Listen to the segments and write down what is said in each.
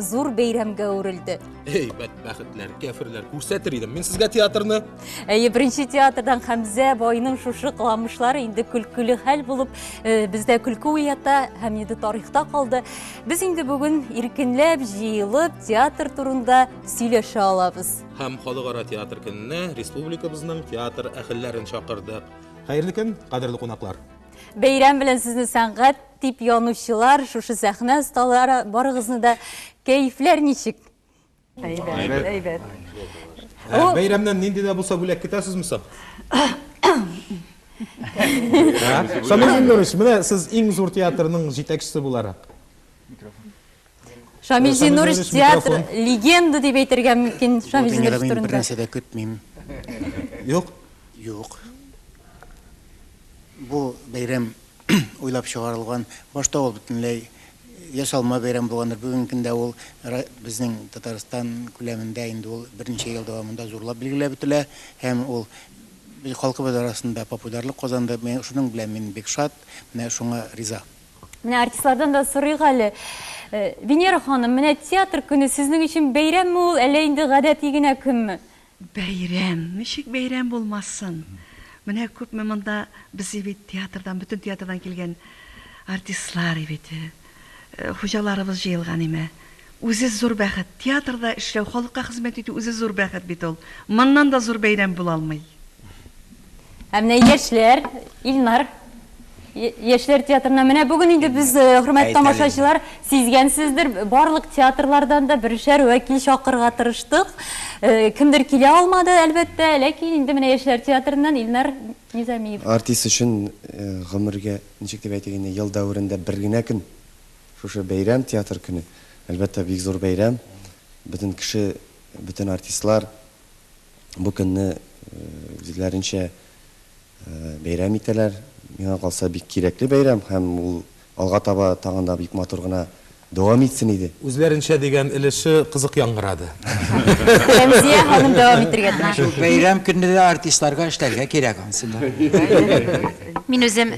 зур бәйрәмгә әверелде. Эй, бәдбәхетләр, кәферләр, күрсәтер идем мин сезгә театрны. Әйе, беренче театрдан Хәмзә байның шушы кыламышлары инде көлкеле хәл булып, э, бездә көлке уята һәм инде тарихта калды. Без инде бүген иркенләп җыелып театр турында сөйләшә алабыз. Һәм халыкара театр көненә республикабызның театр әхелләрен чакырдык. Хәерле көн, кадерле кунаклар. Бәйрәм белән сезне сәнгать Дип янучылар, шушы сәхнә осталары, барыгызны да кәефләр ничек? Әйбәт, әйбәт. Ә, бәйрәмнән нинди дә булса бүләк көтәсезме соң? Шамил Зиннурович, менә сез иң зур театрның җитәкчесе буларак. Шамил Зинурович театр легенда дип әйтергә мөмкин Шамил Зинурович турында. Бер нәрсә дә көтмим. Юк? Юк. Бу бәйрәм уйлап чыгарылган. Башта ул бөтенләй ясалма бәйрәм булгандыр. Бүгенге көндә ул безнең Татарстан күләмендә инде ул берничә ел дәвамында зурлап билгеләп үтелә һәм ул халкыбыз арасында популярлык казанды. Менә шуның белән мин бик шат, менә шуңа риза. Менә артистлардан да сорыйк әле. Э, Венера ханым, менә театр көне сезнең өчен бәйрәмме ул, әллә инде гадәти генә көнме? Бәйрәм, ничек бәйрәм булмасын? Менә күпме монда безнең бит театрдан, бөтен театрдан килгән артистлар бит. Э, хуҗаларыбыз җыелган име. Үзе зур бәхет. Театрда эшләү, халыкка хезмәт итү үзе зур бәхет бит ул. Моннан да зур бәйрәм була алмый. Ә менә яшьләр, Илнар, яшьләр театрына менә бүген инде без, хөрмәтле тамашачылар, сизгәнсездер, барлык театрлардан да бершәр вәкил чакырырга тырыштык. Кемдер килә алмады, әлбәттә, ләкин инде менә яшьләр театрыннан Илнар Низамиев. Артист өчен гомергә, ничек дип әйтик инде, ел дәверендә бер генә көн. Шушы бәйрәм, Театр көне, әлбәттә, бик зур бәйрәм. Бөтен кеше, бөтен артистлар бу көнне үзләренчә бәйрәм итәләр. Миңа калса, бик кирәкле бәйрәм һәм ул алга таба тагын да бик матур гына дәвам итсен иде. Үзләренчә дигән өлеше кызык яңгырады. Рәмзия ханым дәвам итәргә тиеш. Шул бәйрәм көнне дә артистларга эшләргә кирәк, ансы да. Мин үзем.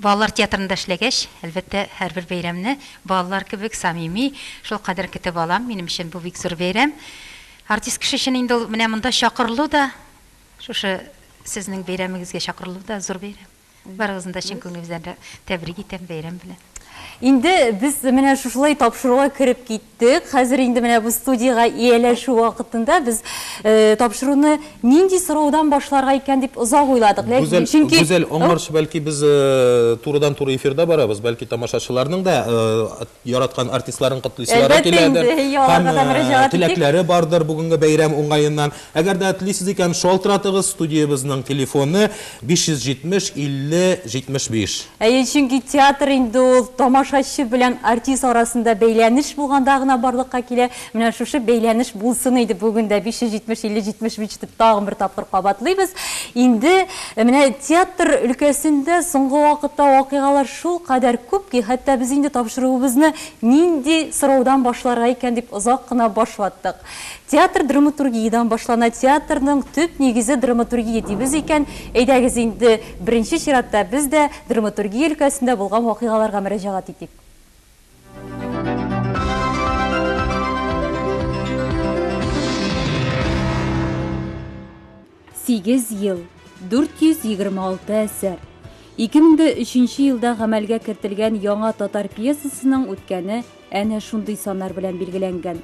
Балалар театрында эшләгәч, әлбәттә, һәрбер бәйрәмне балалар кебек самими, шулкадәр көтеп алам. Минем өчен бу бик зур бәйрәм. Артист кеше өчен инде ул менә монда чакырылу да, шушы сезнең бәйрәмегезгә чакырылу да зур бәйрәм. Барыгызны да чын күңелебездән тәбрик итәм бәйрәм белән. Инде без менә шушылай тапшыруга кереп киттек. Хәзер инде менә бу студиягә ияләшү вакытында без э, тапшыруны нинди сораудан башларга икән дип озак уйладык. Ләкин Гүзәл, чөнки Гүзәл, аңарчы бәлки без э, турыдан-туры эфирда барабыз, бәлки тамашачыларның да э, яраткан артистларын котлыйсылары Әлбәттә киләдер. инде, һи, аларга Һәм да э, мөрәҗәгать итик. теләкләре бардыр бүгенге бәйрәм уңаеннан. Әгәр дә телисез икән, шалтыратыгыз, студиябезнең телефоны, 570 50 75. Әйе, чөнки театр инде ул тамашачы белән артист арасында бәйләнеш булганда гына барлыкка килә. Менә шушы бәйләнеш булсын иде бүген дә, 570 50 75 дип тагын бер тапкыр кабатлыйбыз. Инде менә театр өлкәсендә соңгы вакытта вакыйгалар шулкадәр күп ки, хәтта без инде тапшыруыбызны нинди сораудан башларга икән дип озак кына баш ваттык. Театр драматургиядән башлана, театрның төп нигезе драматургия дибез икән, әйдәгез инде, беренче чиратта без дә драматургия өлкәсендә булган вакыйгаларга мөрәҗәгать итик. Сигез ел, 426 әсәр. 2003 нче елда гамәлгә кертелгән яңа татар пьесасының үткәне әнә шундый саннар белән билгеләнгән.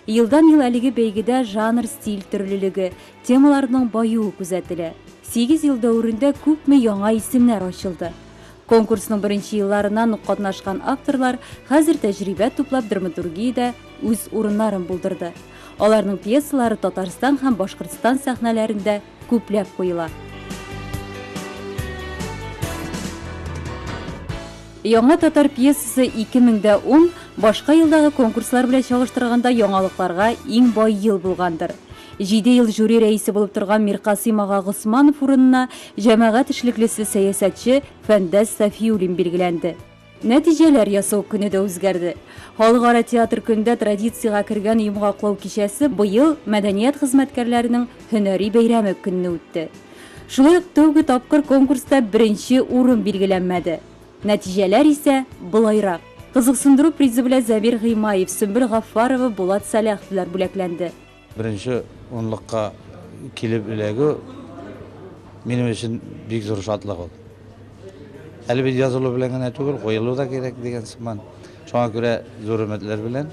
Елдан-ел әлеге бәйгедә жанр-стиль төрлелеге, темаларның баюы күзәтелә. Сигез ел дәверендә күпме яңа исемнәр ачылды. Конкурсның беренче елларыннан ук катнашкан авторлар хәзер тәҗрибә туплап драматургиядә, үз урыннарын булдырды. Аларның пьесалары Татарстан һәм Башкортстан сәхнәләрендә күпләп куела. Яңа татар пьесасы 2010 башка елдагы конкурслар белән чагыштырганда яңалыкларга иң бай ел булгандыр. Җиде ел жюри рәисе булып торган Миркасыйм ага Госманов урынына җәмәгать эшлеклесе, сәясәтче Фәндәс Сафиуллин билгеләнде. Нәтиҗәләр ясау көне дә үзгәрде. Халыкара театр көндә традициягә кергән йомгаклау кичәсе быел мәдәният хезмәткәрләренең һөнәри бәйрәме көнне үтте. Шулай ук тәүге тапкыр конкурста беренче урын билгеләнмәде. Нәтиҗәләр исә болайрак. Кызыксындыру призы белән Зәмир Гыймаев, Сөмбел Гаффарова, Булат Саляховлар бүләкләнде. Беренче унлыкка килеп эләгү минем өчен бик зур шатлык ул. Әле бит язылу белән генә түгел, куелу да кирәк дигән сыман. Шуңа күрә зур өметләр белән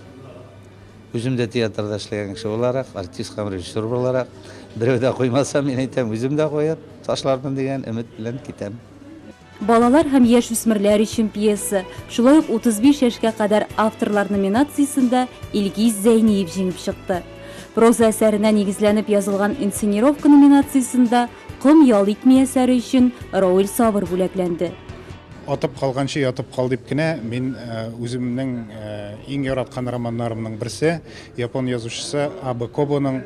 үзем дә театрда эшләгән кеше буларак, артист һәм режиссер буларак, берәү дә куймаса, мин әйтәм, үзем дә куеп ташлармын дигән өмет белән китәм. Балалар һәм яшүсмерләр өчен пьеса, шулай ук 35 яшькә кадәр авторлар номинациясендә Илгиз Зәйниев җиңеп чыкты. Проза әсәренә нигезләнеп язылган инсценировка номинациясендә Ком ял итми әсәре өчен Роэль Савр бүләкләнде. Атып калганчы ятып кал дип кенә мин үземнең иң яраткан романнарымның берсе, япон язучысы Абэ Кобоның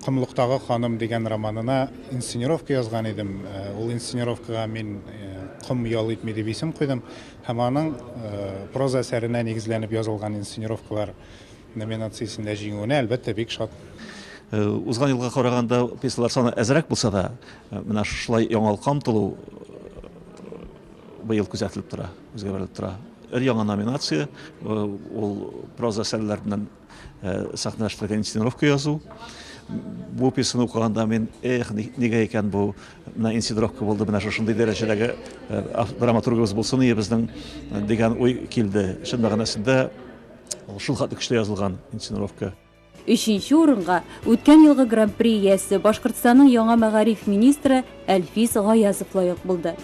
Комлыктагы ханым дигән романына инсценировка язган идем. Ул инсценировкага мин Ком ял итми дип исем куйдым һәм аның проза әсәренә нигезләнеп язылган инсценировкалар номинациясендә җиңүенә, әлбәттә, бик шат. Узган елга караганда пьесалар саны әзрәк булса да, менә шулай яңалыкка омтылу быел күзәтелеп тора, үзгәрелеп тора. Өр-яңа номинация, ул проза әсәрләреннән Сәхнә эшләгән инсценировка язу. Бу пьесаны укыганда мин, эх, нигә икән бу, менә инсценировка булды, менә шушындый дәрәҗәдәге драматургыбыз булсын ие безнең, дигән уй килде. Чын мәгънәсендә ул шул хәтле көчле язылган инсценировка. Өченче урынга үткән елгы Гран-при иясе, Башкортстанның яңа мәгариф министры Әлфис Гаязов лаек булды.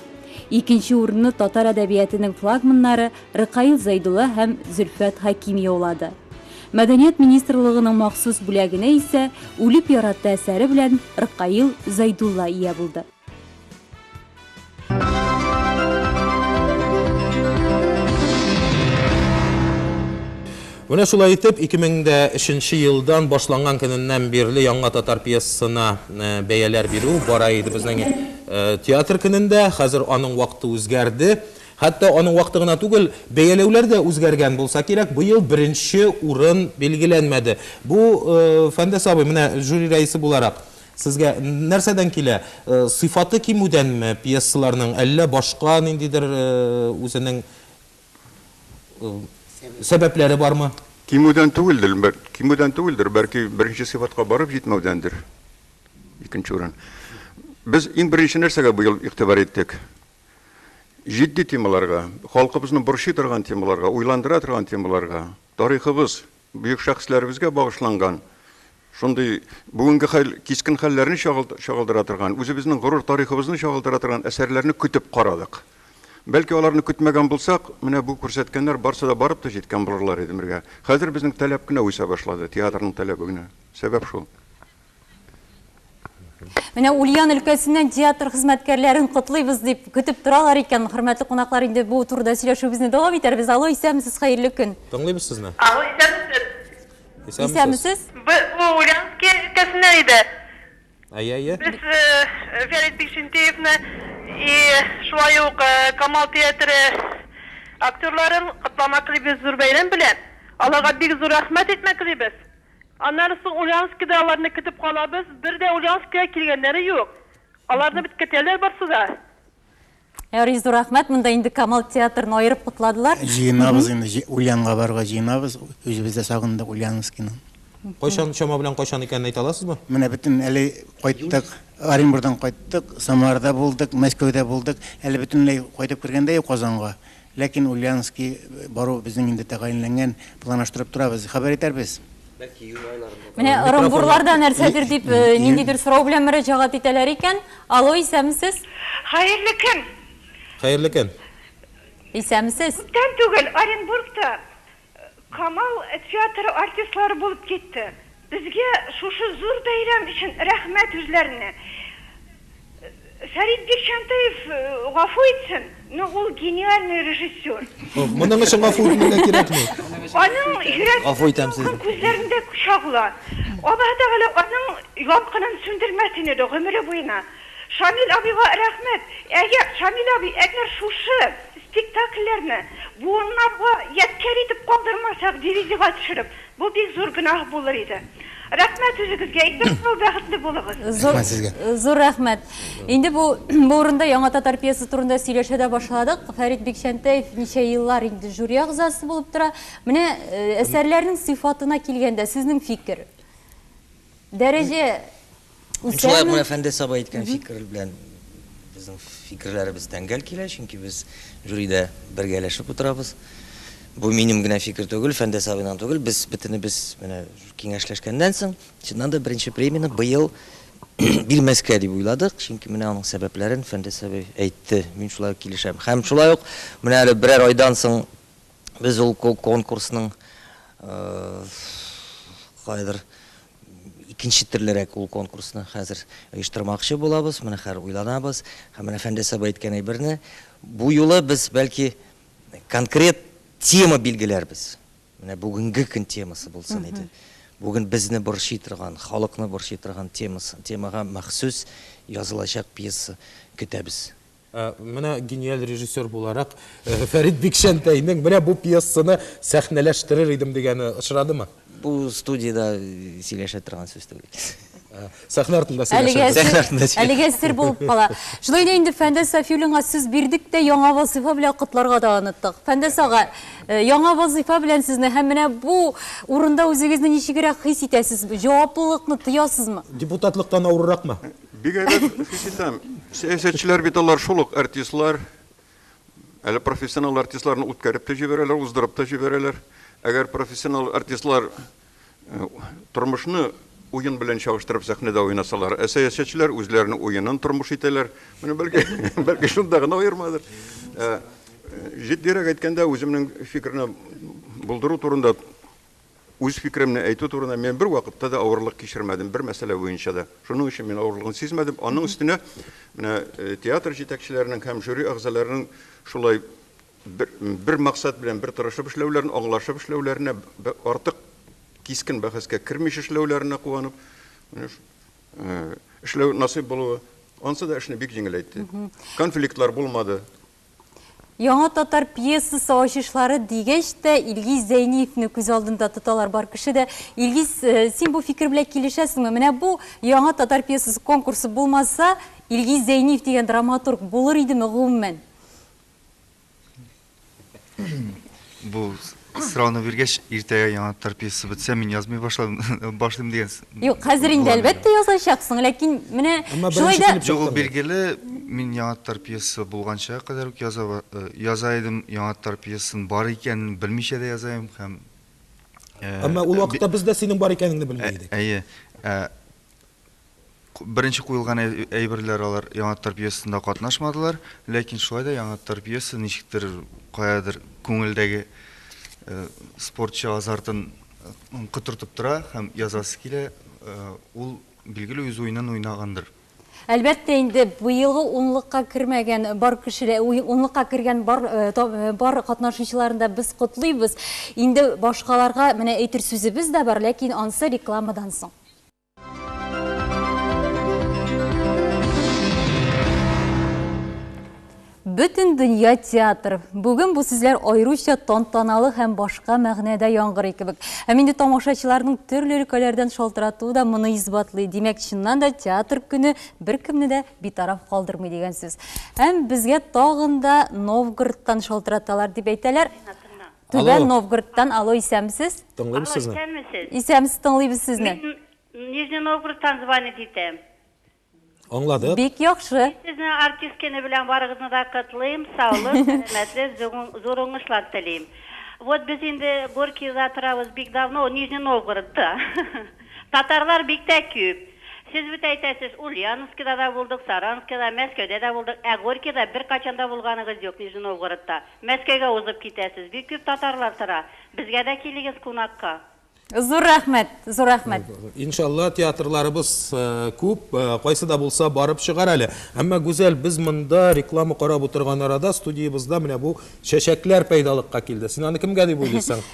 Икенче урынны татар әдәбиятының флагманнары Рыкаил Зәйдулла һәм Зөлфәт Хәким яулады. Мәдәният министрлыгының махсус бүләгенә исә Үлеп яратты әсәре белән Рыкаил Зәйдулла ия булды. Менә шулай итеп, 2003 нче елдан башланган көненнән бирле яңа татар пьесасына бәяләр бирү бара иде безнең театр көнендә. Хәзер аның вакыты үзгәрде. Хәтта аның вакыты гына түгел, бәяләүләр дә үзгәргән булса кирәк, быел беренче урын билгеләнмәде. Бу, Фәндәс абый, менә жюри рәисе буларак, сезгә нәрсәдән килә? Сыйфаты кимүдәнме пьесаларның, әллә башка ниндидер үзенең сәбәпләре бармы? Кимүдән түгелдер, кимүдән түгелдер, бәлки беренче сыйфатка барып җитмәүдәндер, икенче урын. Без иң беренче нәрсәгә быел игътибар иттек? җитди темаларга, халкыбызны борчый торган темаларга, уйландыра торган темаларга, тарихыбыз, бөек шәхесләребезгә багышланган шундый бүгенге хәл, кискен хәлләрне чагылдыра торган, үзебезнең горур тарихыбызны чагылдыра торган әсәрләрне көтеп карадык. Бәлки аларны көтмәгән булсак, менә бу күрсәткәннәр барсы да барып та җиткән булырлар иде бергә. Хәзер безнең таләп кенә үсә башлады, театрның таләбе генә. Сәбәп шул. Менә Ульян өлкәсеннән театр хезмәткәрләрен котлыйбыз дип көтеп торалар икән. Хөрмәтле кунаклар, инде бу турыда сөйләшүебезне дәвам итәрбез. Алло, исәнмесез, хәерле көн. Тыңлыйбыз сезне. Алло, исәнмесез. Исәнмесез. Исәнмесез. Бу Ульянские өлкәсеннән иде. Әйе, әйе. Без Фәрит Бикчәнтәевны и шулай ук Камал театры актерларын котламаклыйбыз зур бәйрәм белән. Аларга бик зур рәхмәт әйтмәклыйбыз. Аннары соң Ульяновскида аларны көтеп калабыз, бер дә Ульяновскига килгәннәре юк. Аларны бит көтәләр барсы да. Ярый, зур рәхмәт. Монда инде Камал театрын аерып котладылар. Җыенабыз инде, Ульянга барырга җыенабыз. Үзебез дә сагындык Ульяновскины. Кайчан, чама белән кайчан икәнен әйтә аласызбы? Менә бөтен әле кайттык, Оренбурдан кайттык, Самарада булдык, Мәскәүдә булдык. Әле бөтенләй кайтып кергән дә юк Казанга. Ләкин Ульяновски бару безнең инде тәгаенләнгән, планаштырып торабыз, хәбәр итәрбез. Бәлки июнь айларында. Менә ырымбурларда нәрсәдер дип ниндидер сорау белән мөрәҗәгать итәләр икән. Алло, исәнмесез? Хәерле көн! Хәерле көн! Исәнмесез! Күптән түгел Оренбургта Камал театры артистлары булып китте. Безгә шушы зур бәйрәм өчен рәхмәт үзләренә. Фәрит Бикчәнтәев гафу итсен, но ул гениальный режиссер. Моның өчен гафу үтенергә кирәкми. Аның йөрәк дулкын күзләрендә чагыла. Аллаһы Тәгалә аның ялкынын сүндермәсен иде гомере буена. Шамил абыйга рәхмәт! Әгәр Шамил абый әгәр шушы спектакльләрне буыннарга ядкяр итеп калдырмасак, дивизига төшереп, бу бик зур гөнаһ булыр иде. Рәхмәт үзегезгә, исән сау бәхетле булыгыз. Зур зур рәхмәт. Инде бу бу урында Яңа татар пьесасы турында сөйләшә дә башладык. Фәрит Бикчәнтәев ничә еллар инде жюри әгъзасы булып тора. Менә әсәрләрнең сыйфатына килгәндә, сезнең фикер? Дәрәҗә үсәме? Шулай ук менә Фәндәс абый әйткән фикер белән безнең фикерләребез тәңгәл килә, чөнки без жюридә бергәләшеп утырабыз. Бу минем генә фикер түгел, Фәндәс абыйның түгел, без бөтенебез менә киңәшләшкәннән соң, чыннан да беренче премияне быел бирмәскә дип уйладык, чөнки менә аның сәбәпләрен Фәндәс абый әйтте, мин шулай ук килешәм. Һәм шулай ук менә әле берәр айдан соң Без ул конкурсның кайдыр икенче төрлерәк ул конкурсны хәзер оештырмакчы булабыз. Менә хәзер уйланабыз. Һәм менә Фәндәс абый әйткән әйберне бу юлы без, бәлки, конкрет тема билгеләрбез. Менә бүгенге көн темасы булсын иде. Бүген безне борчый торган, халыкны борчый торган темага махсус язылачак пьеса көтәбез. Ә менә гениаль режиссер буларак Фәрит Бикчәнтәйнең менә бу пьесаны сәхнәләштерер идем дигәне очрадымы? Бу студиядә сөйләшә торган сүз түгел. Сәхнә артында сөйләшәбез. Сәхнә артында сөйләшәбез. Әлегә сер булып кала. Шулай да инде Фәндәс Сафиуллинга сүз бирдек тә, яңа вазыйфа белән котларга да оныттык. Фәндәс ага, яңа вазыйфа белән сезне һәм менә бу урында үзегезне ничегрәк хис итәсез? Җаваплылыкны тоясызмы? Депутатлыктан авырракмы? Бик әйбәт хис итәм. Сәясәтчеләр бит алар шул ук артистлар. Әле профессионал артистларны үткәреп тә җибәрәләр, уздырып та җибәрәләр. Әгәр профессионал артистлар э, тормышны уен белән чагыштырып сәхнәдә уйнасалар, ә сәясәтчеләр үзләренең уенын тормыш итәләр. Менә бәлки, бәлки шунда гына аермадыр. Э, э, җитдирәк әйткәндә, үземнең фикерне булдыру турында Үз фикеремне әйтү турында мин бервакытта да авырлык кичермәдем, бер мәсьәлә буенча да. Шуның өчен мин авырлыгын сизмәдем. Аның өстенә, менә театр җитәкчеләренең һәм жюри әгъзаларының шулай бер, бер максат белән бер тырышып эшләүләрен, аңлашып эшләүләренә, артык кискен бәхәскә кермичә эшләүләренә куанып, менә эшләү насыйп булуы, ансы да эшне бик җиңеләйтте. Конфликтлар булмады. Яңа татар пьесасы ачышлары дигәч тә, Илгиз Зәйниевне күз алдында тоталар бар кеше дә. Илгиз, э, син бу фикер белән килешәсеңме? Менә бу яңа татар пьесасы конкурсы булмаса, Илгиз Зәйниев дигән драматург булыр идеме гомумән? Бу Сорауны биргәч, иртәгә яңа тар пьеса бетсә, мин язмый башладым, башлыйм дигән с-. Юк, хәзер инде, план иде. әлбәттә, язачаксың, ләкин менә Әмма шулай беренче да. килеп Юк, ул чыкты бит. билгеле, мин яңа тар пьеса булганчыга кадәр үк яза ба, э, яза идем, яңа тар пьесаның бар икәнен белмичә дә яза идем һәм, э, Әмма ул э, би, вакытта без дә синең бар икәнеңне белми ә, идек. әйе, ә, Беренче куелган әйберләр алар Яңаттар пьесасында катнашмадылар, ләкин шулай да Яңаттар пьесасы ничектер каядыр күңелдәге спортчы азартын котыртып тора һәм язасы килә, ул билгеле үз уенын уйнагандыр. Әлбәттә инде, быелгы унлыкка кермәгән бар кешеләр, унлыкка кергән бар бар катнашучыларны да без котлыйбыз. Инде башкаларга менә әйтер сүзебез дә бар, ләкин ансы рекламадан соң. Бөтен дөнья театр. Бүген бу сүзләр аеруча тантаналы һәм башка мәгънәдә яңгырый кебек. Һәм инде тамашачыларның төрле өлкәләрдән шалтыратуы да моны исбатлый. Димәк, чыннан да театр көне беркемне дә битараф калдырмый дигән сүз. Һәм безгә тагын да Новгородтан шалтыраталар дип әйтәләр. Түбән Новгородтан, алло, исәнмесез? Тыңлыйбыз сезне. Алло, исәнмесез? Исәнмесез, тыңлыйбыз сезне. Мин Нижний Новгородтан звонить итәм. Аңладык. Бик яхшы. Сезне артист көне белән барыгызны да котлыйм, саулык, сәламәтлек, зур уңышлар телим. Вот без инде Горькийда торабыз бик давно, Нижний Новгородта. Татарлар бик тә күп. Сез бит әйтәсез, Ульяновскида да булдык, Саранскида, Мәскәүдә дә булдык, ә Горькийда беркайчан да булганыгыз юк, Нижний Новгородта. Мәскәүгә узып китәсез. Бик күп татарлар тора. Безгә дә килегез кунакка. Зур рәхмәт, зур рәхмәт. Иншалла, театрларыбыз күп, кайсы да булса барып чыгар әле. Әмма, Гүзәл, без монда реклама карап утырган арада студиябызда менә бу чәчәкләр пәйдалыкка килде. Син аны кемгә дип уйлыйсың?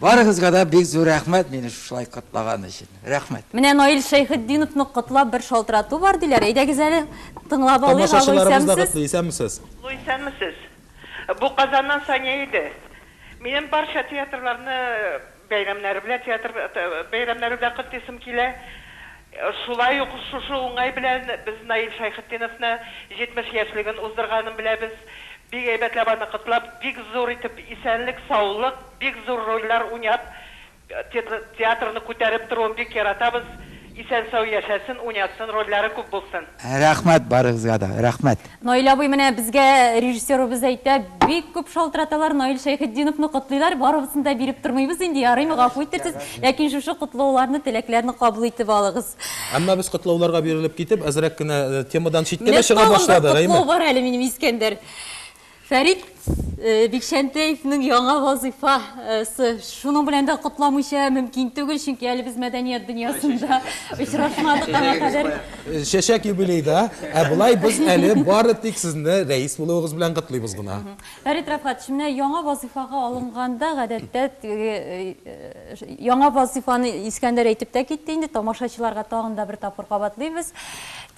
Барыгызга да бик зур рәхмәт мине шушылай котлаган өчен. Рәхмәт. Менә Наил Шәйхетдиновны котлап бер шалтырату бар диләр, әйдәгез әле тыңлап алыйк, алло, Тамашачыларыбыз да котлый, исәнмесез. Алло, исәнмесез. Бу Казаннан Сания иде. Минем барча театрларны бәйрәмнәре белән, театр бәйрәмнәре белән котлыйсым килә. Шулай ук шушы уңай белән без Наил Шәйхетдиновны 70 яшьлеген уздырганын беләбез. Бик әйбәтләп аны котлап, бик зур итеп исәнлек, саулык, бик зур рольләр уйнап, театрны күтәреп торуын бик яратабыз. Исән-сау яшәсен, уйнатсын, рольләре күп булсын! Рәхмәт барыгызга да, рәхмәт. Наил абый, менә безгә режиссерыбыз әйтә, бик күп шалтыраталар, Наил Шәйхетдиновны котлыйлар, барыбызны да биреп тормыйбыз инде, ярыймы, гафу иттерсез, ләкин шушы котлауларны, теләкләрне кабул итеп алыгыз. Әмма без котлауларга бирелеп китеп, әзрәк кенә темадан читкә дә чыга башладык, әйеме? Менә тагын бер котлау бар әле минем, Искәндәр. Фәрит Бикчәнтәевның яңа вазыйфасы. Шуның белән дә котламыйча мөмкин түгел, чөнки әле без мәдәният дөньясында очрашмадык аңа кадәр. Чәчәк юбилейда, ә болай без әле бары тик сезне рәис булуыгыз белән котлыйбыз гына. Фәрит Рәфгатович, менә яңа вазыйфага алынганда, гадәттә, яңа вазыйфаны Искәндәр әйтеп тә китте инде, тамашачыларга тагын да бер тапкыр кабатлыйбыз.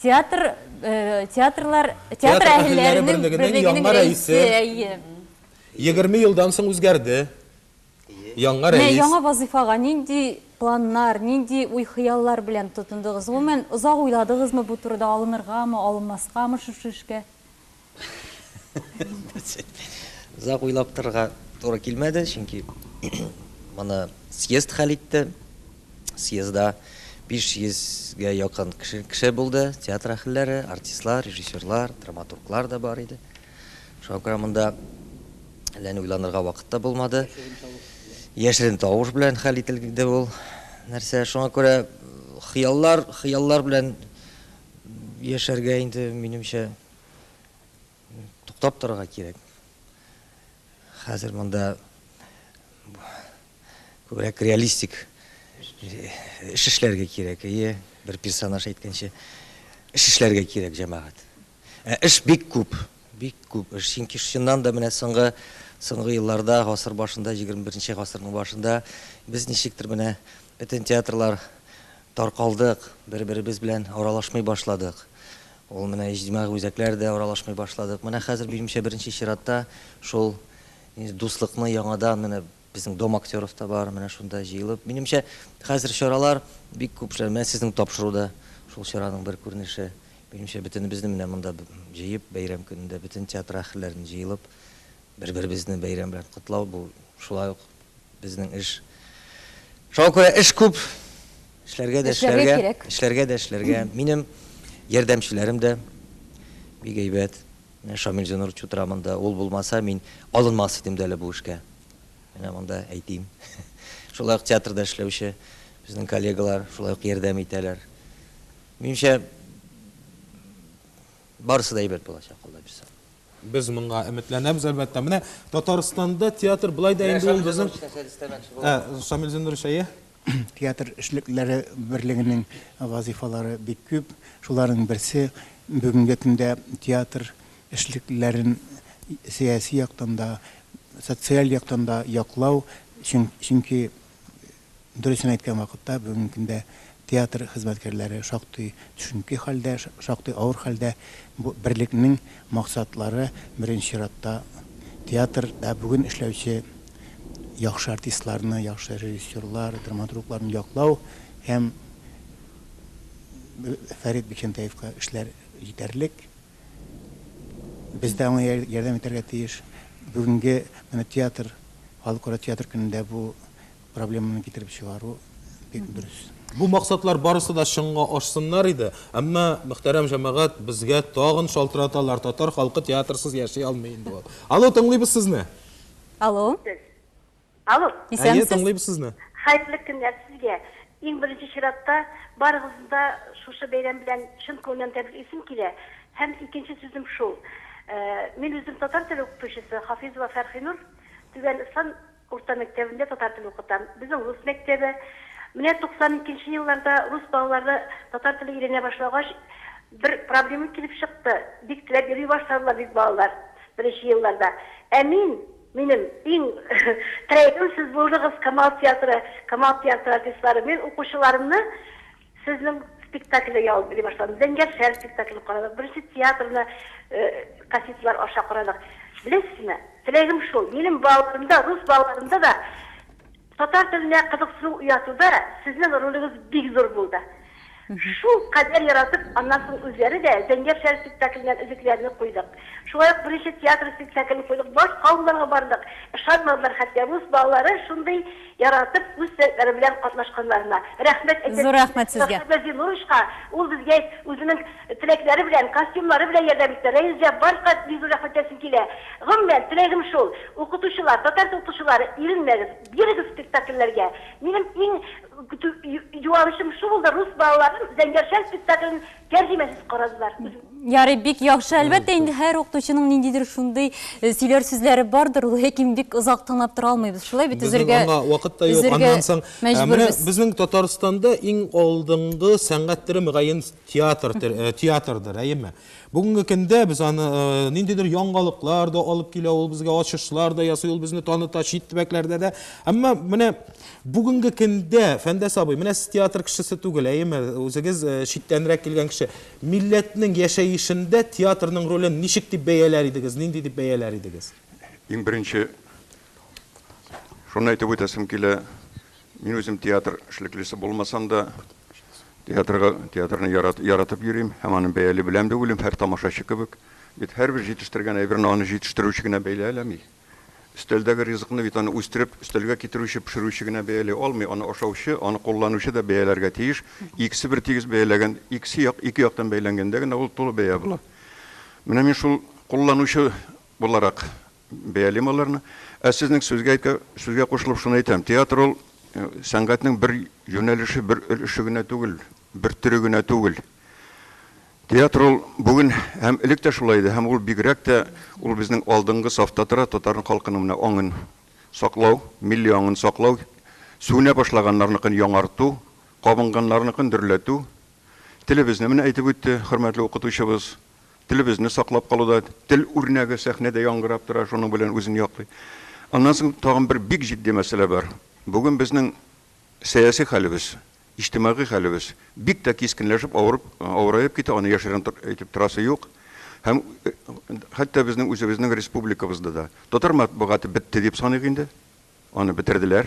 Театр Э, театрлар театр әһелләре берлегенең яңа рәисе егерме елдан соң үзгәрде яңа рәис яңа вазифага нинди планнар нинди уй хыяллар белән тотындыгыз гомумән озак уйладыгызмы бу турыда алыныргамы алынмаскамы шушы эшкә Озак уйлап торырга туры килмәде, чөнки моны съезд хәл итте. Съездда 500-гә якын кеше, кеше булды, театр әһелләре, артистлар, режиссерлар, драматурглар да бар иде. Шуңа күрә монда әллә ни уйланырга вакыт та булмады. Яшерен тавыш белән хәл ителде ул нәрсә. Шуңа күрә хыяллар, хыяллар белән яшәргә инде минемчә туктап торырга кирәк. Хәзер монда күбрәк реалистик эш эшләргә кирәк. Әйе, бер персонаж әйткәнчә, эш эшләргә кирәк җәмәгать. Ә эш бик күп, бик күп эш. Чөнки чыннан да менә соңгы соңгы елларда, гасыр башында, 21 гасырның башында без ничектер менә бөтен театрлар таркалдык, бер-беребез белән аралашмый башладык. Ул менә иҗтимагый үзәкләр дә аралашмый башладык. Менә хәзер минемчә беренче чиратта шул дуслыкны яңадан менә безнең Дом актеров та бар, менә шунда җыелып. Минемчә, хәзер чаралар бик күп эшләр, менә сезнең тапшыру да шул чараның бер күренеше. Минемчә, бөтенебезне менә монда җыеп, бәйрәм көнендә бөтен театр әһелләрен җыелып, бер-беребезне бәйрәм белән котлау, бу шулай ук Безнең эш. Шуңа күрә эш күп. Эшләргә дә эшләргә. Эшләргә дә эшләргә. Минем ярдәмчеләрем дә бик әйбәт. Менә Шамил Зинурович утыра монда. Ул булмаса, мин алынмас идем дә әле бу эшкә. Менә монда әйтим. Шулай ук театрда эшләүче безнең коллегалар шулай ук ярдәм итәләр. Минемчә, Барысы да әйбәт булачак, Алла бирса. Без моңа өметләнәбез, әлбәттә. Менә Татарстанда театр болай да инде ул безнең Ә, Шамил Зиннурович, әйе? Театр эшлеклеләре берлегенең вазыйфалары бик күп. Шуларның берсе, бүгенге көндә театр эшлеклеләрен сәяси яктан да, социаль яктан да яклау. Чөнки Дөресен әйткән вакытта, бүгенге көндә театр хезмәткәрләре шактый төшенке хәлдә, шактый авыр хәлдә. Бу берлекнең максатлары, беренче чиратта, театрда бүген эшләүче яхшы артистларны, яхшы режиссерлар, драматургларны яклау һәм Фәрит Бикчәнтәевка эшләр җитәрлек. Без дә аңа ярдәм итәргә тиеш. Бүгенге менә театр, Халыкара театр көнендә бу проблеманы китереп чыгару бик дөрес. Бу максатлар барысы да чынга ашсыннар иде, әмма, мөхтәрәм җәмәгать, безгә тагын шалтыраталар, татар халкы театрсыз яши алмый инде ул. Алло, тыңлыйбыз сезне! Алло. Без. Алло. Әйе, тыңлыйбыз сезне. Хәерле көннәр сезгә. Иң беренче чиратта, барыгызны да шушы бәйрәм белән чын күңелнән тәбриклисем килә. Һәм икенче сүзем шул, мин үзем татар теле укытучысы, Хафизова Фәрхинур, Түбән Ыслан урта мәктәбендә татар теле укытам. Безнең рус мәктәбе. Менә 92 нче елларда рус балалары татар теле өйрәнә башлагач, бер проблема килеп чыкты, бик теләп йөри башладылар бит балалар беренче елларда. Ә мин, Минем иң теләгем сез булдыгыз Камал театры, Камал театры артистлары. Мин укучыларымны сезнең спектакльдә ял иттерә башладым. Зәңгәршәл спектаклен карадык, беренче театрны кассеталар аша карадык. Беләсезме, теләгем шул, минем балаларымда, рус балаларымда да Татар теленә кызыксыну уятуда сезнең ролегез бик зур булды. Шул кадәр яратып, аннан соң үзләре дә Зәңгәр шәл спектакленнән өзекләрне куйдык. Шулай ук беренче театр спектаклен куйдык, башка авылларга бардык, ышанмадылар хәтта рус балалары шундый яратып үз сәләтләре белән катнашканнарына. Рәхмәт әйтәсез Зур рәхмәт сезгә. Сафида Зинуровичка, ул безгә үзенең. Теләкләре белән, костюмнары белән ярдәм итте. Рәис Җәббаровка бик зур рәхмәт әйтәсем килә. Гомумән, теләгем шул, укытучылар, татар теле укытучылары, иренмәгез, бирегез спектакльләргә. Минем иң көтү юанычым шул булды, рус балаларым Зәңгәршәл спектаклен тәрҗемәсез карадылар. Ярый, бик яхшы. Әлбәттә инде, һәр укытучының ниндидер шундый сөйләр сүзләре бардыр, ләкин бик озак тыңлап тора алмыйбыз. Шулай бит, өзергә, өзергә мәҗбүрбез. Безнең Татарстанда иң алдынгы сәнгать төре, мөгаен, Театр, театрдыр, әйеме? Бүгенге көндә без аны ниндидер яңалыклар да алып килә, ул безгә ачышлар да ясый, ул безне таныта чит төбәкләрдә дә. Әмма менә бүгенге көндә Фәндәс абый, менә сез театр кешесе түгел, әйеме? Үзегез читтәнрәк килгән кеше. Милләтнең яшәешендә театрның ролен ничек дип бәяләр идегез, нинди дип бәяләр идегез? Иң беренче шуны әйтеп үтәсем килә, Мин үзем театр эшлеклесе булмасам да, театрга, театрны ярат, яратып йөрим һәм аны бәяли беләм дә уйлыйм, һәр тамашачы кебек. Бит һәрбер җитештергән әйберне аны җитештерүче генә бәяләми. Өстәлдәге ризыкны бит аны үстереп, өстәлгә китерүче, пешерүче генә бәяли алмый, аны ашаучы, аны кулланучы да бәяләргә тиеш. Икесе бер тигез бәяләгән, икесе як, ике яктан бәяләнгәндә генә ул тулы бәя була. Менә мин шул кулланучы буларак Бәялим аларны. Ә сезнең сүзгә әйтә, сүзгә кушылып шуны әйтәм, театр ул сәнгатьнең бер юнәлеше, бер өлеше генә түгел, бер төре генә түгел. Театр ул бүген һәм элек тә шулай иде, һәм ул бигрәк тә ул безнең алдынгы сафта тора, татар халкының менә аңын саклау, милли аңын саклау, сүнә башлаганнарныкын яңарту, кабынганнарныкын дөрләтү. Телебезне менә әйтеп үтте хөрмәтле укытучыбыз. Телебезне саклап калуда тел үрнәге сәхнәдә яңгырап тора, шуның белән үзен яклый. Аннан соң тагын бер бик җитди мәсьәлә бар. Бүген безнең сәяси хәлебез, иҗтимагый хәлебез бик тә кискенләшеп авырып, авыраеп китә, аны яшерен әйтеп торасы юк. Һәм хәтта безнең үзебезнең республикабызда да татар матбугаты бетте дип саныйк инде. Аны бетерделәр.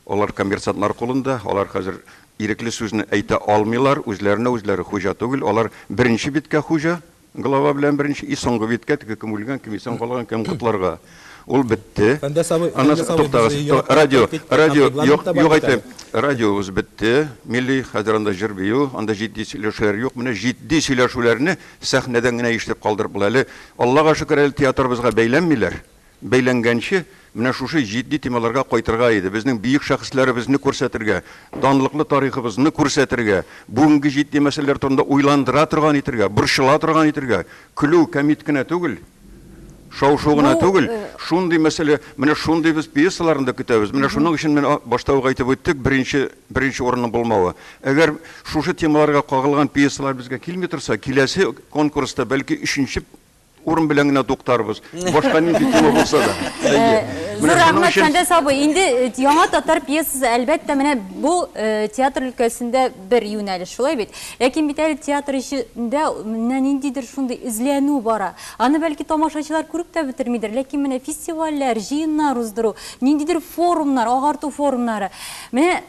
Алар коммерсантлар кулында, алар хәзер ирекле сүзне әйтә алмыйлар, үзләренә үзләре хуҗа түгел, алар беренче биткә хуҗа, глава белән беренче, и соңгы биткә, теге кем үлгән, кем исән калган, кем котларга. Ул бетте. Фәндәс абый, Ана, Фәндәс абый, без туктагыз, ту- еракка радио, киттек, киттек, радио, юк, регламент та бар юк бит әйтәм, әле. радиобыз бетте, милли, хәзер анда җыр-бию, анда җитди сөйләшүләр юк, менә җитди сөйләшүләрне сәхнәдән генә ишетеп калдырып була. Әле, Аллага шөкер, әле театрыбызга бәйләнмиләр. бәйләнгәнче, менә шушы җитди темаларга кайтырга иде, безнең бөек шәхесләребезне күрсәтергә, данлыклы тарихыбызны күрсәтергә, бүгенге җитди мәсьәләләр турында уйландыра торган итергә, борчыла торган итергә, көлү кәмит кенә түгел, шау-шу гына түгел, шундый мәсьәлә, менә шундый без пьесаларны да көтәбез. Менә шуның өчен мин башта ук әйтеп үттек, беренче, беренче урынның булмавы. Әгәр шушы темаларга кагылган пьесалар безгә килми торса, киләсе конкурста, бәлки, өченче Урын белән генә туктарбыз. Башка нинди тема булса да. Әйе. Зур рәхмәт, Фәндәс абый. Инде э, яңа татар пьесасы, әлбәттә, менә бу э, театр өлкәсендә бер юнәлеш, шулай бит. Ләкин бит әле театр эчендә менә ниндидер шундый эзләнү бара. Аны бәлки тамашачылар күреп тә бетермидер, ләкин менә фестивальләр, җыеннар уздыру, ниндидер форумнар, агарту форумнары. Менә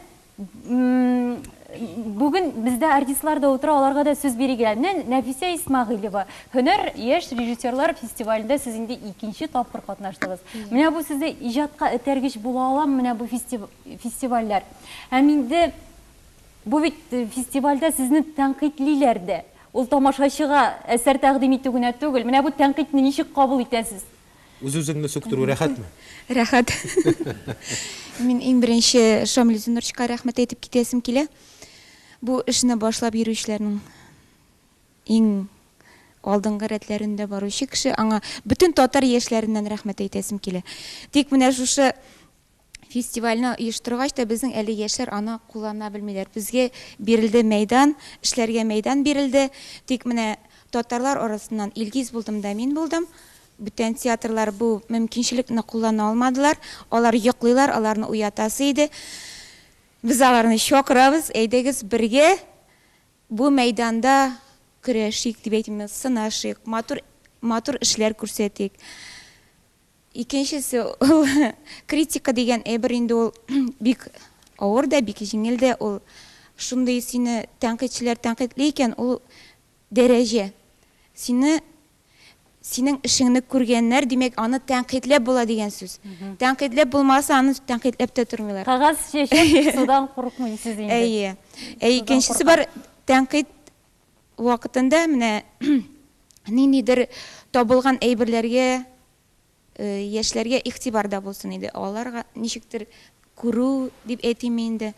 Бүген бездә артистлар да утыра, аларга да сүз бирергә. Менә Нәфисә Исмагыйлева, Һөнәр яшь режиссерлар фестивалендә сез инде икенче тапкыр катнаштыгыз. Менә бу сездә иҗатка этәргеч була алам, менә бу фестивальләр. Һәм инде бу бит э, фестивальдә сезне тәнкыйтьлиләр дә. Ул тамашачыга әсәр тәкъдим итү генә түгел. Менә бу тәнкыйтьне ничек кабул итәсез? Үз-үзеңне сүктерү рәхәтме? Рәхәт. Мин иң беренче Шамил Зинурчика рәхмәт әйтеп китәсем килә. Бу эшне башлап йөрүчеләрнең иң алдынгы рәтләрендә баручы кеше. Аңа бөтен татар яшьләреннән рәхмәт әйтәсем килә. Тик менә шушы Фестивальне оештыргач та безнең әле яшьләр аны куллана белмиләр. Безгә бирелде мәйдан, эшләргә мәйдан бирелде. Тик менә татарлар арасыннан Илгиз булдым да мин булдым. Бүтән театрлар бу мөмкинчелекне куллана алмадылар. Алар йоклыйлар, аларны уятасы иде. Без аларны чакырабыз, әйдәгез бергә бу мәйданда көрәшик, дип әйтимме, сынашыйк, матур матур эшләр күрсәтик. Икенчесе ул критика дигән әйбер инде ул бик авыр да, бик җиңел дә ул. Шундый сине тәнкыйтьчеләр тәнкыйтьли икән, ул дәрәҗә. Сине, синең эшеңне күргәннәр, димәк, аны тәнкыйтьләп була дигән сүз. Тәнкыйтьләп булмаса, аны тәнкыйтьләп тә тормыйлар. Кагаз чәчеп судан курыкмыйсыз инде. Әйе. Ә икенчесе бар, тәнкыйть Вакытында менә ниндидер табылган әйберләргә яшьләргә игътибар да булсын иде, аларга ничектер күрү дип әйтимме инде,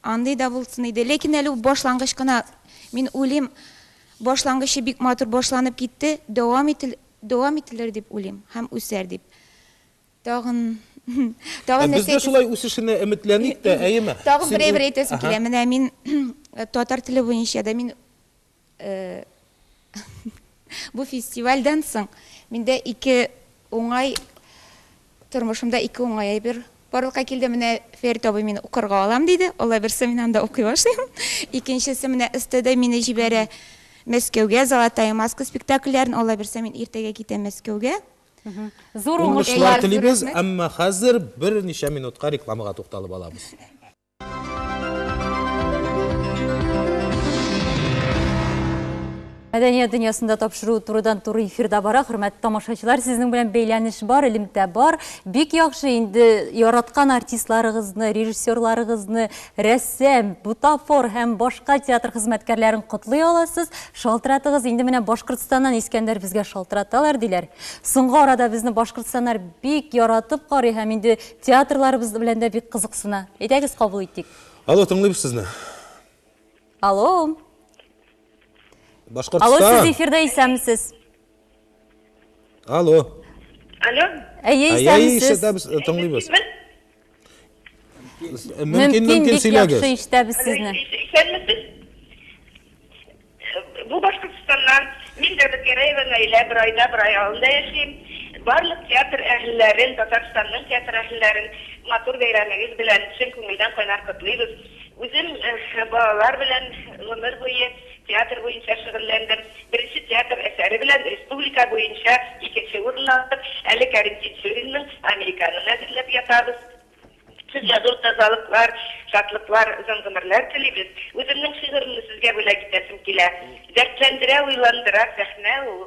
андый да булсын иде. Ләкин әле ул башлангыч кына, мин уйлыйм, башлангычы бик матур башланып китте, дәвам ителер дип уйлыйм һәм үсәр дип. Тагын, тагын нәрсә әйтәсем... Без дә шулай үсешенә өметләник тә, әйеме? Тагын берәй бер әйтәсем килә. Менә мин татар теле буенча да мин бу фестивальдән соң миндә ике уңай, тормышымда ике уңай әйбер барлыкка килде. Менә Фәрит абый мине укырга алам диде. Алла бирса, мин анда укый башлыйм. Икенчесе, менә СТД мине җибәрә Мәскәүгә, Золотая маска спектакльләрен. Алла бирса, мин иртәгә китәм Мәскәүгә. Зур уңышлар телибез, әмма хәзер берничә минутка рекламага тукталып алабыз. Мәдәният дөньясында тапшыру турыдан-туры эфирда бара. Хөрмәтле тамашачылар, сезнең белән бәйләнеш бар, элемтә бар. Бик яхшы, инде яраткан артистларыгызны, режиссерларыгызны Рәссам, бутафор һәм башка театр хезмәткәрләрен котлый аласыз. Шалтыратыгыз, инде менә Башкортстаннан Искәндәр безгә шалтыраталар, диләр. Соңгы арада безне башкортстаннар бик яратып карый һәм инде театрларыбыз белән дә бик кызыксына. Әйдәгез, кабул итик. Алло, тыңлыйбыз сезне. Алло. Башкортстан. Алло, сез эфирда, исәнмесез. Алло. Алло. Әйе, исәнмесез. Әйе, исәнмесез, тыңлыйбыз. Мөмкин, мөмкин сөйләгез. Яхшы ишетәбез сезне. Исәнмесез. Бу Башкортстаннан. Мин Дәүләт Гәрәева Наилә, бер айда бер ай авылында яшим. Барлык театр әһелләрен, Татарстанның театр әһелләрен матур бәйрәмегез белән чын күңелдән кайнар котлыйбыз. Үзем балалар белән гомер буе Театр буенча шөгыльләндем. Беренче театр әсәре белән республика буенча икенче урын алдык. Әле Кәрим Тинчуринның Американын әзерләп ятабыз. Сезгә зур тазалыклар, шатлыклар, озын гомерләр телибез. Үземнең шигыремне сезгә бүләк итәсем килә. Дәртләндерә, уйландыра сәхнә ул.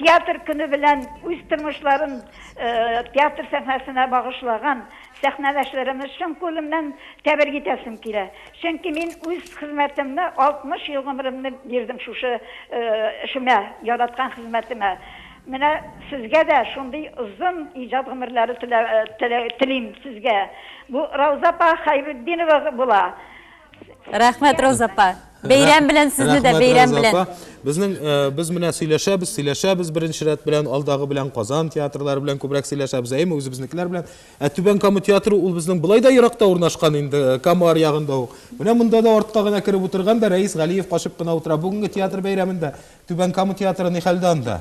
Театр көне белән үз тормышларын театр сәхнәсенә багышлаган сәхнәдәшләремне чын күңелемнән тәбрик итәсем килә. Чөнки мин үз хезмәтемне, 60 ел гомеремне бирдем шушы эшемә, яраткан хезмәтемә. Менә сезгә дә шундый озын иҗат гомерләре телим сезгә. Бу Рауза апа Хәйретдинова була. Рәхмәт, Роза апа. Бәйрәм белән сезне дә, бәйрәм белән. Безнең э, без менә сөйләшәбез, сөйләшәбез беренче рәт белән, алдагы белән Казан театрлары белән күбрәк сөйләшәбез, әйме үзебезнекеләр белән. Ә Түбән Кама театры ул безнең былай да еракта урнашкан инде, э, Кама аръягында ук. Менә монда да артка гына кереп утырган да Рәис Галиев качып кына утыра. Бүгенге театр бәйрәмендә Түбән Кама театры ни хәлдә анда?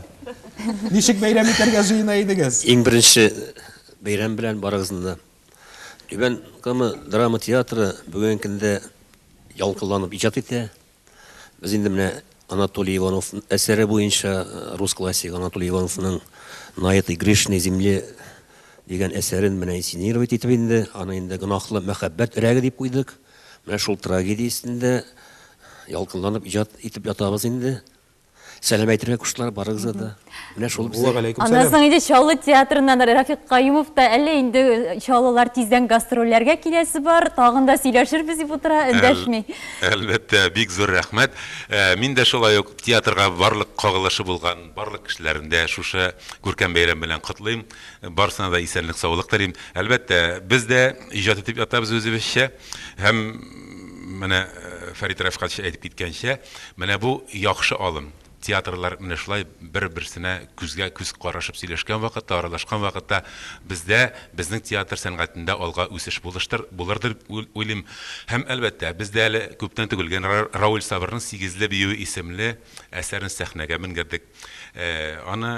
Ничек бәйрәм итәргә җыена идегез? Иң беренче бәйрәм белән барыгызны да Түбән Кама драма театры бүгенге көндә ялкынланып иҗат итә. Без инде менә Анатолий Иванов әсәре буенча рус классигы Анатолий Ивановның На этой грешной земле дигән әсәрен менә инсценировать итеп инде, аны инде гөнаһлы мәхәббәт өрәге дип куйдык. Менә шул трагедия өстендә ялкынланып иҗат итеп ятабыз инде. Сәлам әйтергә куштылар барыгызга да. Менә шул бездә. Аннан соң инде Чаллы театрыннан Рафик Каюмов та әллә инде э, чаллылар тиздән гастрольләргә киләсе бар, тагын да сөйләшербез дип утыра, эндәшми. Әлбәттә, бик зур рәхмәт. Э, мин дә шулай ук театрга барлык кагылышы булган барлык кешеләрне дә шушы күркәм бәйрәм белән котлыйм. Барсына да исәнлек, саулык телим. Әлбәттә, без дә иҗат итеп ятабыз үзебезчә. Һәм, менә Фәрит Рәфкатьчә әйтеп киткәнчә, менә бу яхшы алым. Театрлар менә шулай бер-берсенә күзгә күз карашып сөйләшкән вакытта, аралашкан вакытта бездә, безнең театр сәнгатендә алга үсеш булыштыр, булыр дип уйлыйм. Һәм, әлбәттә, без дә әле күптән түгел генә Рауль Сабырның Сигезле биюе исемле әсәрен сәхнәгә менгердек. Аны.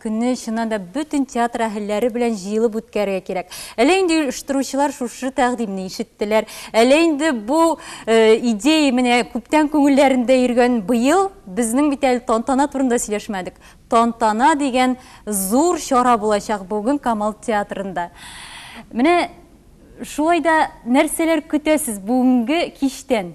Көнне, чыннан да, бөтен театр әһелләре белән җыелып үткәрергә кирәк. Әллә инде оештыручылар шушы тәкъдимне ишеттеләр, әллә инде бу идея менә күптән күңелләрендә йөргән. Быел безнең бит әле тантана турында сөйләшмәдек. Тантана дигән зур чара булачак бүген Камал театрында. Менә шулай да нәрсәләр көтә сез бүгенге кичтән?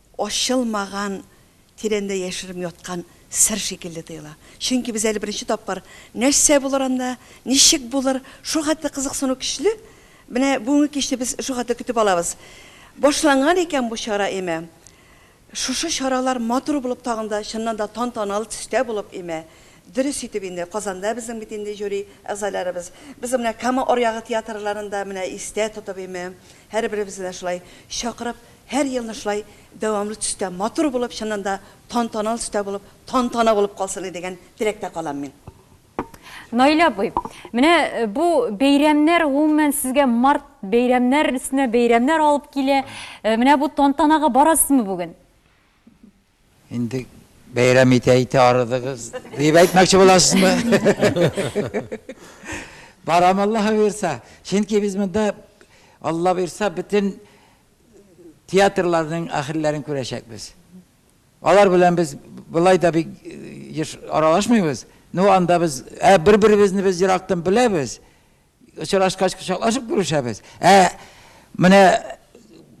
Ачылмаган, тирәндә яшеренеп яткан сер шикелле тоела. Чөнки без әле беренче тапкыр нәрсә булыр анда, ничек булыр, шул хәтле кызыксыну көчле. Менә бүгенге кичне без шул хәтле көтеп алабыз. Башланган икән бу чара, имә, шушы чаралар матур булып тагын да, чыннан да тантаналы төстә булып, имә, дөрес итеп инде, Казанда безнең бит инде жюри әгъзаларыбыз, без менә Кама аръягы театрларын да менә истә тотып, имә, һәрберебезне дә шулай чакырып, Һәр елны шулай дәвамлы төстә, матур булып, чыннан да тантаналы төстә булып, тантана булып калсын иде дигән теләктә калам мин. Наил абый, менә бу бәйрәмнәр гомумән сезгә март бәйрәмнәр өстенә бәйрәмнәр алып килә. Менә бу тантанага барасызмы бүген? Инде бәйрәм итә-итә арыдыгыз, дип әйтмәкче буласызмы? Барам Аллаһы бирса. Чөнки без монда Алла бирса бөтен театрларның ахирләрен күрәчәкбез. Алар белән без былай да бик еш аралашмыйбыз. Ну анда без бер-беребезне без ерактан беләбез. Очрашкач кочаклашып күрешәбез. Ә менә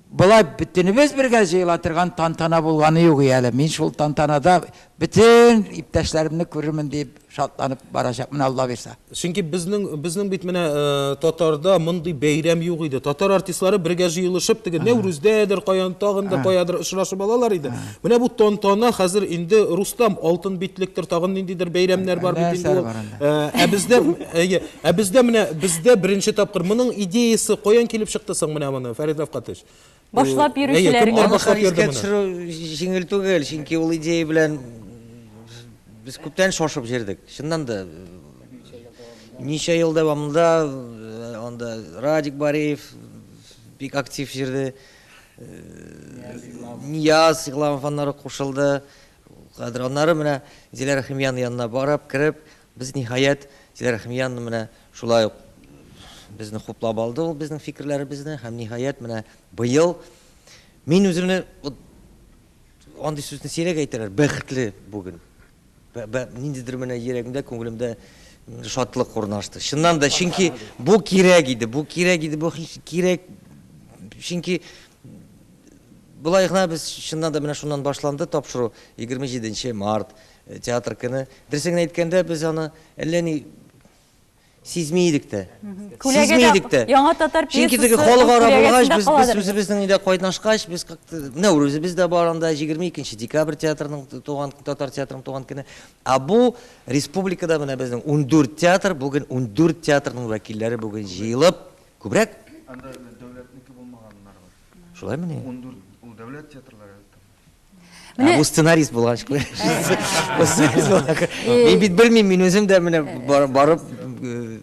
болай бөтенебез бергә җыела торган тантана булганы юк әле. Мин шул тантанада бөтен иптәшләремне күрермен дип шатланып барачакмын Алла бирсә. Чөнки безнең безнең бит менә э, татарда мондый бәйрәм юк иде. Татар артистлары бергә җыелышып теге Нәүрүздәдер, каян тагын да каядыр очрашып алалар иде. Менә бу тантана хәзер инде Рустам алтын битлектер, тагын ниндидер бәйрәмнәр бар бит инде. Э, ә бездә әйе, Ә бездә менә, бездә беренче тапкыр. Моның идеясе каян килеп чыкты соң менә моны, Фәрит Рафкатович? Башлап йөрүчеләр кем? Аны хәлискә төшерү җиңел түгел, чөнки ул идея белән без күптән шашып йөрдек. Чыннан да, ничә ел дәвамында анда Радик Бариев бик актив йөрде. Нияз Игламов аннары кушылды. Хәзер аннары менә Зилә Рәхимиянең янына барып, кереп, Без, ниһаять, Зиләрәхмиянны менә шулай ук безне хуплап алды ул безнең фикерләребезне һәм, ниһаять, менә быел мин үземне вот андый сүзне сирәк әйтәләр, бәхетле бүген. Ниндидер менә йөрәгемдә, күңелемдә шатлык урнашты. Чыннан да, чөнки бу кирәк иде, бу кирәк иде, бу кирәк. Чөнки болай гына без чыннан да менә шуннан башланды тапшыру 27 март, Театр көне. Дөресен генә әйткәндә, без аны әллә ни сизми идек тә. Сизми идек тә. Яңа татар пьесасы. Чөнки теге халык ара булгач, без без үзебезнең инде кайнашкач, без как-то менә үзебез дә бар анда 22 декабрь театрының туган татар театрының туган көне. А бу республикада менә безнең 14 театр, бүген 14 театрның вәкилләре бүген җыелып, күбрәк. Анда дәүләтнеке булмаганнар бар. Шулаймыни? 14 ул дәүләт театрлары. Менә бу сценарист булгач күр. Мин бит белмим, мин үзем дә менә барып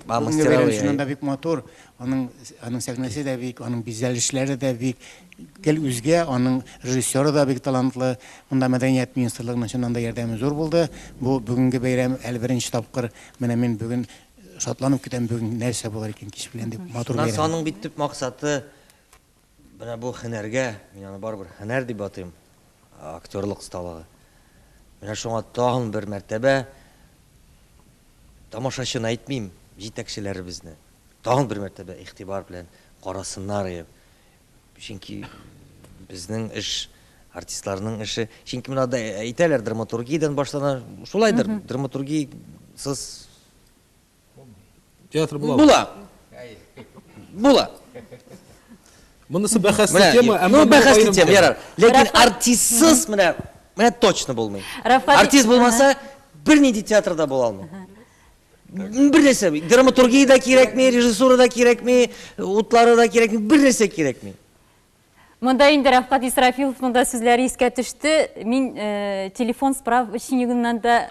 мастеровый. Шуннан да бик матур. Аның аның сәхнәсе дә бик, аның бизәлешләре дә бик гел үзгә, аның режиссеры да бик талантлы. Монда мәдәният министрлыгының чыннан да ярдәме зур булды. Бу бүгенге бәйрәм әле беренче тапкыр. Менә мин бүген шатланып көтәм бүген нәрсә булыр икән кич белән дип матур бәйрәм. Шуннан соң аның бит төп максаты Менә бу һөнәргә, мин аны барыбер һөнәр дип атыйм, актерлык осталыгы. Менә шуңа тагын бер мәртәбә тамашачыны әйтмим, җитәкчеләребезне тагын бер мәртәбә игътибар белән карасыннар иде. Чөнки безнең эш, артистларның эше, чөнки менә да әйтәләр драматургиядән башлана, шулайдыр, драматургиясыз Театр була. Була. Була. Монысы бәхәсле Менә, тема, әмма ну, бу бәхәсле аерым тема, тема. ярар. Ләкин Рәфкать- артистсыз менә, менә точно булмый. Рәфкать- Артист булмаса, бернинди театрда була алмый. Бер нәрсә, драматургия да кирәкми, режиссура да кирәкми, утлары да кирәкми, бер нәрсә кирәкми. Монда инде Рәфкат Исрафиловның да сүзләре искә төште. Мин э, телефон справочнигыннан да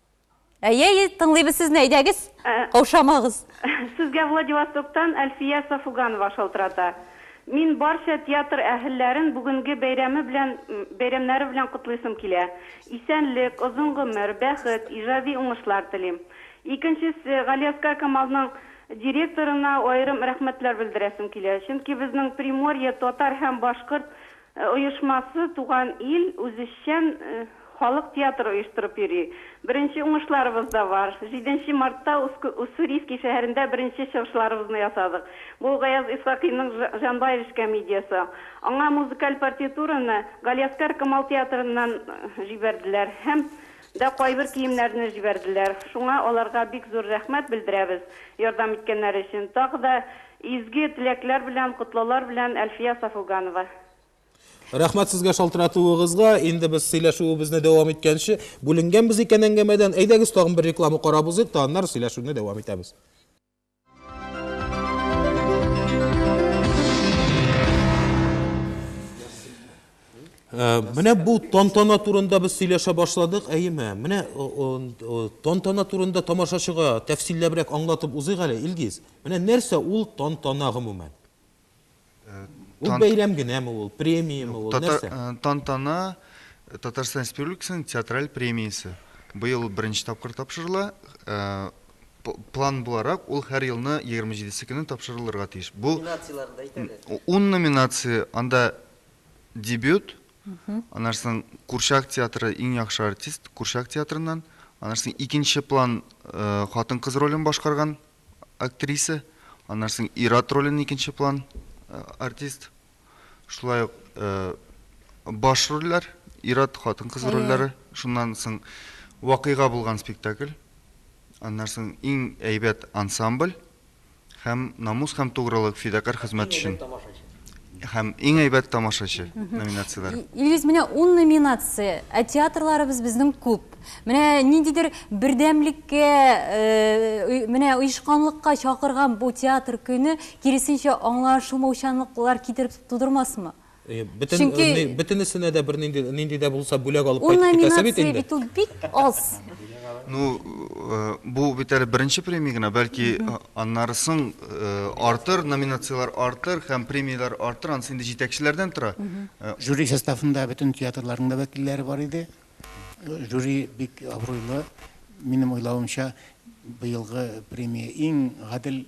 Әйе, әйе, тыңлыйбыз сезне, әйдәгез, Ә. каушамагыз. Сезгә Владивостоктан Әлфия Сафуганова шалтырата. Мин барча театр әһелләрен бүгенге бәйрәме белән, бәйрәмнәре белән котлыйсым килә. Исәнлек, озын гомер, бәхет, иҗади уңышлар телим. Икенчесе, Галиәскар Камалның директорына аерым рәхмәтләр белдерәсем килә. Чөнки безнең Приморье татар һәм башкорт оешмасы Туган ил үзешчән халык театры оештырып йөри. Беренче уңышларыбыз да бар. Җиденче мартта Уссурийский шәһәрендә беренче чыгышларыбызны ясадык. Бу Гаяз Исхакыйның Җанбаевич комедиясе. Аңа музыкаль партитураны Галиәскар Камал театрыннан җибәрделәр һәм Да кайбер киемнәрне җибәрделәр. Шуңа аларга бик зур рәхмәт белдерәбез, ярдәм иткәннәре өчен. Тагы да изге теләкләр белән, котлаулар белән, Әлфия Сафуганова. Рәхмәт сезгә шалтыратуыгызга. Инде без сөйләшүебезне дәвам иткәнче, бүленгәнбез икән әңгәмәдән. Әйдәгез, тагын бер реклама карап узыйк та, аннары сөйләшүне дәвам итәбез. Э, менә бу тантана турында без сөйләшә башладык, әйеме? Менә тантана турында тамашачыга тәфсилләбрәк аңлатып узыйк әле, Илгиз. Менә нәрсә ул тантана гомумән? Ул бәйрәм генәме ул, премиямы ул, нәрсә? Тантана Татарстан Республикасының театраль премиясе. Быел беренче тапкыр тапшырыла. План буларак, ул һәр елны 27-се көне тапшырылырга тиеш. Бу номинацияләрен әйт әле. 10 номинация, анда дебют, аннан соң Курчак театры иң яхшы артист, Курчак театрыннан, аннан соң икенче план хатын-кыз ролен башкарган актриса, аннан соң ир-ат ролен икенче план артист. Шулай ук баш рольләр, ир-ат, хатын-кыз рольләре. Шуннан соң вакыйга булган спектакль. Аннан соң иң әйбәт ансамбль һәм намус һәм тугрылык, фидакарь хезмәт өчен. һәм иң әйбәт тамашачы номинацияләре. Илгиз, менә ун номинация, ә театрларыбыз безнең күп. Менә ниндидер бердәмлеккә, э, менә оешканлыкка чакырган бу театр көне, киресенчә аңлашылмаучанлыклар китереп тудырмасмы? Э, бөтен, Чөнки... Э, бөтенесенә дә бер нинди, нинди дә булса бүләк алып кайтып китәсе бит инде. Ул номинация бит ул бик аз. Ну, бу бит әле беренче премия генә, бәлки аннары соң артыр, номинацияләр артыр һәм премияләр артыр, анысы инде җитәкчеләрдән тора. Жюри составында бөтен театрларның да вәкилләре бар иде. Жюри бик абруйлы. Минем уйлавымча, быелгы премия иң гадел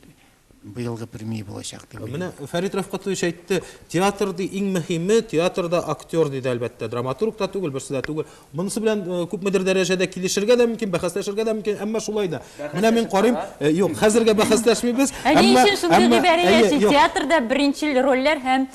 Быелгы премия булачак дип уйлыйм. Менә Фәрит Рәфкатович әйтте, театр ди, иң мөһиме, театрда актер, диде, әлбәттә, драматург та түгел, берсе дә түгел. Монысы белән күпмедер дәрәҗәдә килешергә дә мөмкин, бәхәсләшергә дә мөмкин, әмма шулай да. Менә мин карыйм, юк, хәзергә бәхәсләшмибез. Ә ни өчен шундый гыйбарә яши, театрда беренчел рольләр һәм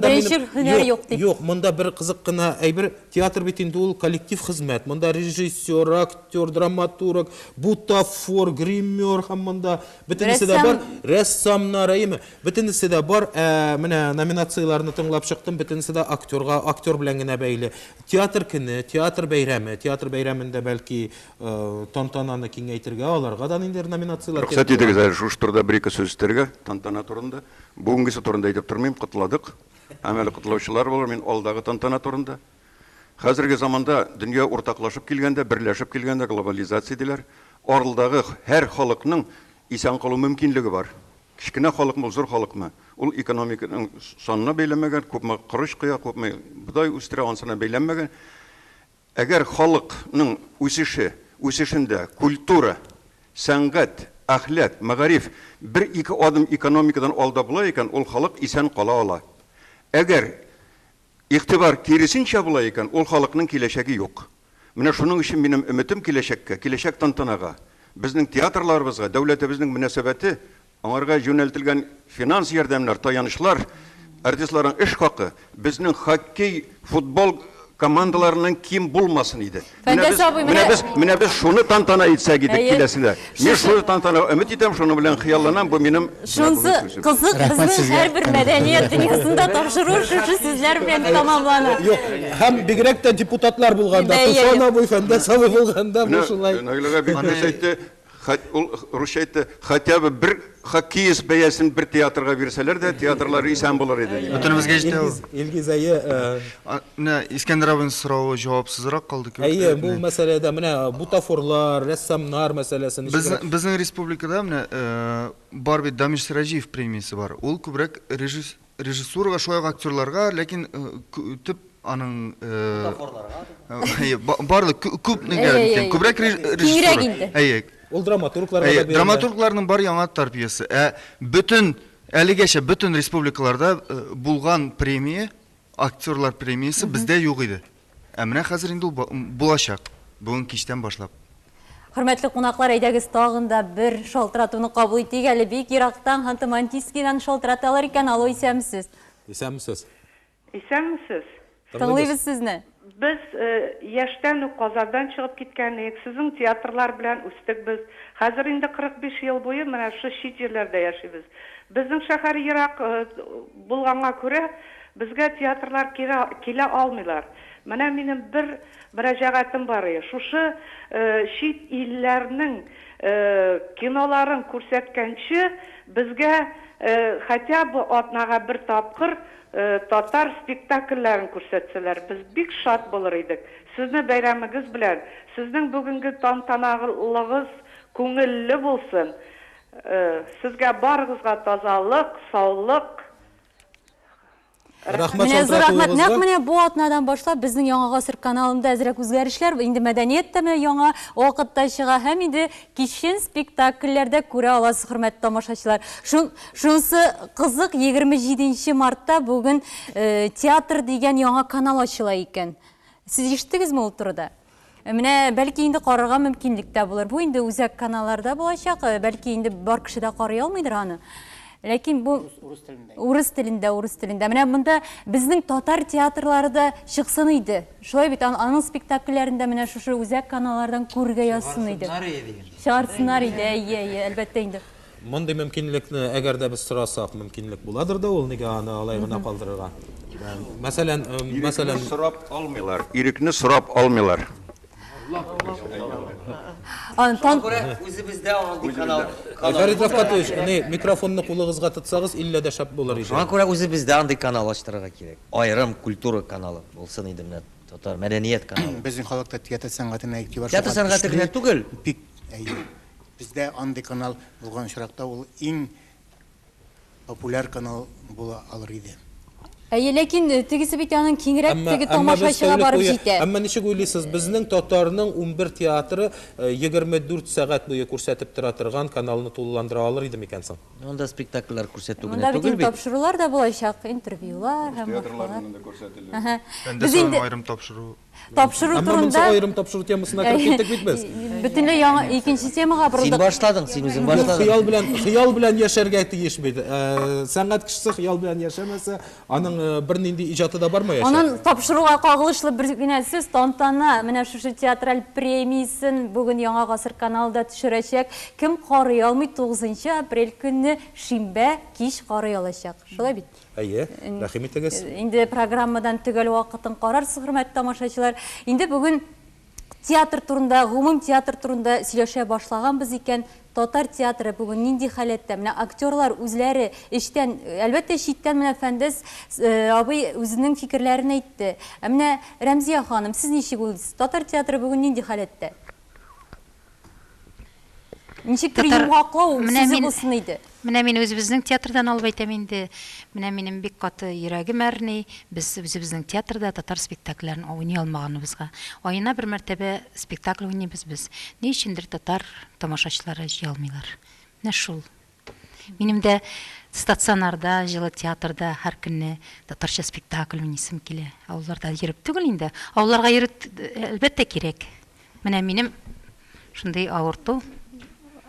беренчел һөнәр юк дип? Юк, монда бер кызык кына әйбер, театр бит инде ул коллектив хезмәт, монда режиссер, актер, актер, драматург, бутафор, гример һәм монда бөтенесе дә бар. Рәссамнар, әйеме? Бөтенесе дә бар. Ә менә номинацияләрне тыңлап чыктым, бөтенесе дә актерга, актер белән генә бәйле. Театр көне, театр бәйрәме, театр бәйрәмендә бәлки тантананы киңәйтергә, аларга да ниндидер номинацияләр кертергә. Рөхсәт итегез әле шушы турыда бер-ике сүз өстәргә, тантана турында. Бүгенгесе турында әйтеп тормыйм, котладык. Һәм әле котлаучылар булыр, мин алдагы тантана турында. Хәзерге заманда дөнья уртаклашып килгәндә, берләшеп килгәндә глобализация диләр. Аралдагы һәр халыкның исән калу мөмкинлеге бар. Кечкенә халыкмы, зур халыкмы, ул экономиканың санына бәйләнмәгән, күпме корыч коя, күпме бодай үстерә, ансына бәйләнмәгән. Әгәр халыкның үсеше, үсешендә культура, сәнгать, әхлак, мәгариф бер-ике адым экономикадан алда була икән, ул халык исән кала ала. Әгәр Игътибар, киресенчә була икән, ул халыкның киләчәге юк. Менә шуның өчен минем өметем киләчәккә, киләчәк тантанага, безнең театрларыбызга дәүләтебезнең мөнәсәбәте, аңарга юнәлтелгән финанс ярдәмнәр, таянычлар, артистларның эш хакы, безнең хоккей, футбол командаларыннан ким булмасын иде. Фәндәс абый менә без менә без шуны тантана итсәк идек киләсендә. Мин шуны тантана өмет итәм, шуны белән хыялланам, бу минем Шунсы кызык безнең һәрбер мәдәният дөньясында тапшыру шушы сүзләр белән тәмамлана. Юк, һәм бигрәк тә депутатлар булганда, Туфан абый, Фәндәс абый булганда бу шулай. Наиләгә бик нәрсә әйтте, Хат ул русча әйтте, хотя бы бер хоккеист бәясен бер театрга бирсәләр дә, театрлар исән булыр иде. Бөтенебезгә җитә ул. Илгиз, әйе. Менә Искәндәр абыйның соравы җавапсызрак калды кебек. Әйе, бу мәсьәләдә менә бутафорлар, рәссамнар мәсьәләсе ничегрәк? Безнең республикада менә бар бит Дамир Сираҗиев премиясе бар. Ул күбрәк Режиссурага шулай ук актерларга, ләкин э, кө- төп аның э, Бутафорларга. әйе, ба- барлык кө- күп Әйе, әйе, әйе. нигә күбрәк реж- Киңрәк режиссура. инде. Әйе, Ул драматургларга да әйе, бирелә. драматургларның бар яңа тәрбиясе. Ә бөтен әлегәчә бөтен республикаларда э, булган премия, актерлар премиясе бездә юк иде. Ә менә хәзер инде ул булачак, бүген кичтән башлап. Хөрмәтле кунаклар, әйдәгез тагын да бер шалтыратуны кабул итик әле. Бик ерактан Ханты-Мансийскидан шалтыраталар икән. Алло, исәнмесез. Исәнмесез. Исәнмесез. Тыңлыйбыз сезне. Без яшьтән үк Казандан чыгып киткән идек. Сезнең театрлар белән үстек без. Хәзер инде 45 ел буе менә шушы чит җирләрдә яшибез. Безнең шәһәр ерак булганга күрә, Безгә театрлар кирә килә алмыйлар. Менә минем бер мөрәҗәгатем барые, шушы чит илләрнең киноларын күрсәткәнче, безгә хотя бы атнага бер тапкыр татар спектакльләрен күрсәтсәләр, без бик шат булыр идек. Сезне бәйрәмегез белән! Сезнең бүгенге тантаналыгыз күңелле булсын! Сезгә барыгызга тазалык, саулык, Рәхмәт Менә зур рәхмәт. Нәкъ менә бу атнадан башлап безнең Яңа гасыр каналында әзрәк үзгәрешләр, инде мәдәният тәме яңа вакытта чыга һәм инде кичен спектакльләрдә күрә аласыз, хөрмәтле тамашачылар. Шунысы кызык, 27 мартта бүген э, театр дигән яңа канал ачыла икән. Сез ишеттегезме ул турыда? Э, менә бәлки инде карарга мөмкинлек тә булыр. Бу инде үзәк каналларда булачак. Э, бәлки инде бар кеше дә карый алмыйдыр аны. Ләкин бу урыс телендә. Урыс телендә, урыс телендә. Менә монда безнең татар театрлары да чыксын иде. Шулай бит, аның спектакльләрен дә менә шушы үзәк каналлардан күрергә язсын иде. Чыгарсыннар иде. Чыгарсыннар иде, әйе, әйе, әлбәттә инде. Мондый мөмкинлекне әгәр дә без сорасак, мөмкинлек буладыр да ул, нигә аны алай гына калдырырга? Мәсәлән, мәсәлән, Ирекне сорап алмыйлар, ирекне сорап алмыйлар. Аны тан... Күрә үзебездә андый канал. Фәрит Рәфкатович, әни, микрофонны кулыгызга тотсагыз, иллә дә шәп булыр иде. Шуңа күрә үзебездә андый канал ачтырырга кирәк. Аерым культура каналы булсын иде менә, татар мәдәният каналы. Безнең халыкта театр сәнгатенә игътибар шуңа төште. Театр сәнгате генә түгел. Бик, әйе. Бездә андый канал булган очракта ул иң популяр канал була алыр иде. Әйе, ләкин тегесе бит аның киңрәк теге тамашачыга барып җитә. Әмма ничек уйлыйсыз, безнең татарның унбер театры егерме дүрт сәгать буе күрсәтеп тора торган каналны тулыландыра алыр иде микән соң? Монда спектакльләр күрсәтү генә түгел бит. Монда бит тапшырулар да булачак, интервьюлар һәм башкалар. Рус театрларыннан да күрсәтелер. Без инде аерым тапшыру. Тапшыру Әмма монысы турында аерым тапшыру темасына кереп киттек бит без. бөтенләй яңа икенче темага Син борылдык. башладың, син үзең Юк, башладың. хыял белән хыял белән яшәргә тиеш бит. Э, Сәнгать кешесе хыял белән яшәмәсә, аның э, бернинди иҗаты да бармаячак. Аннан тапшыруга кагылышлы бер генә сүз, тантана менә шушы театраль премиясен бүген Яңа гасыр каналы да төшерәчәк. Кем карый алмый, 9 апрель көнне шимбә кич карый алачак. Шулай бит? Әйе, рәхим итегез. Инде программадан төгәл вакытын карарсыз, хөрмәтле тамашачылар. Инде бүген театр турында, гомум театр турында сөйләшә башлаганбыз икән, татар театры бүген нинди халәттә? Менә актерлар үзләре эчтән, әлбәттә, читтән менә Фәндәс э, абый үзенең фикерләрен әйтте. Ә менә Рәмзия ханым, сез ничек уйлыйсыз? Татар театры бүген нинди халәттә? Ничек төр йомгаклау сүзе булсын иде. Менә мин үзебезнең театрдан алып әйтәм инде. Менә минем бик каты йөрәгем әрни. Без үзебезнең театрда татар спектакльләрен уйный алмаганыбызга. Аена бер мәртәбә спектакль уйныйбыз без. Ни өчендер татар тамашачылары җыелмыйлар. Менә шул. Минем дә стационарда, җылы театрда һәр көнне татарча спектакль уйныйсым килә. Авылларда йөреп түгел инде. Авылларга йөрү әлбәттә кирәк. Менә минем шундый авырту.